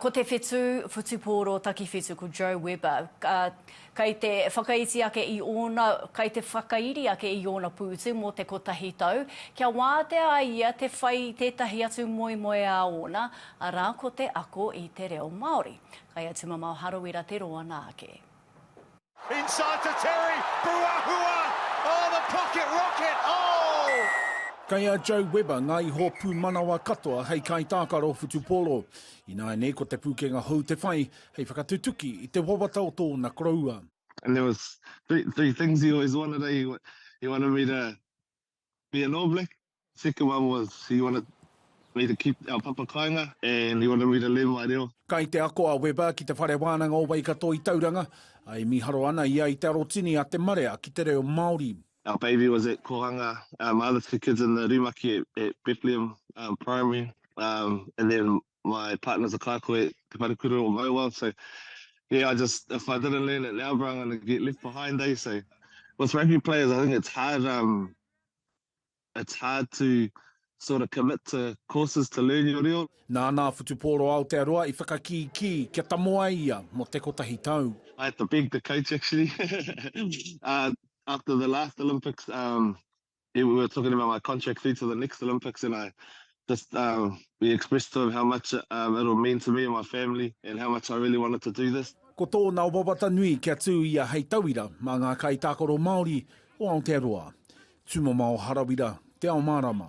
Ko te whetū whutupōro takiwhitu ko Joe Weber, kei te whakaiti ake i ōna, kei te whakairi ake i ōna pūtu mō te kotahi tau, kia wātea ai ia te whai i tētahi atu moemoeā ōna, arā ko te ako i te reo Māori. Kai a Tumamao Harawira te roa nā ake. Inside to Terry, Ruahua! Oh, the pocket rocket! Oh! Kei a Joe Webber ngā iho pūmanawa katoa hei kaitākaro whutupōro. Ināianei ko Te Pūkenga Hou te whai hei whakatutuki i te wawata o tōna koroua. And there was three, three things he always wanted, eh? He wanted me to Be an All Black, second one was he wanted me to keep our papa kainga and he wanted me to learn my reo. Kai te ako a Webber ki te Whare Wānanga o Waikato i Tauranga, ā, e mīharo ana ia i te arotini a te marea ki te reo Māori. Our baby was at Kohanga, um, my other two kids in the Rumaki at Bethlehem um, Primary, um, and then my partner is a kākoe, te wharekura o Mauao, so yeah, I just, if I didn't learn it now, bro, I'm going to get left behind, eh? So with rugby players, I think it's hard, um, it's hard to sort of commit to courses to learn your reo. Nā nā whutupōro Aotearoa i whakakīkī kia tamo ai ia mō te kotahi tau. I had to beg the coach actually. uh, after the last Olympics, um, we were talking about my contract through to the next Olympics, and I just um, we expressed to him how much um, it'll mean to me and my family, and how much I really wanted to do this. Ko tōna wawata nui kia tū ia hei tauira mā ngā kaitākaro Māori o Aotearoa. Tūmama o Harawira, Te Ao Mārama.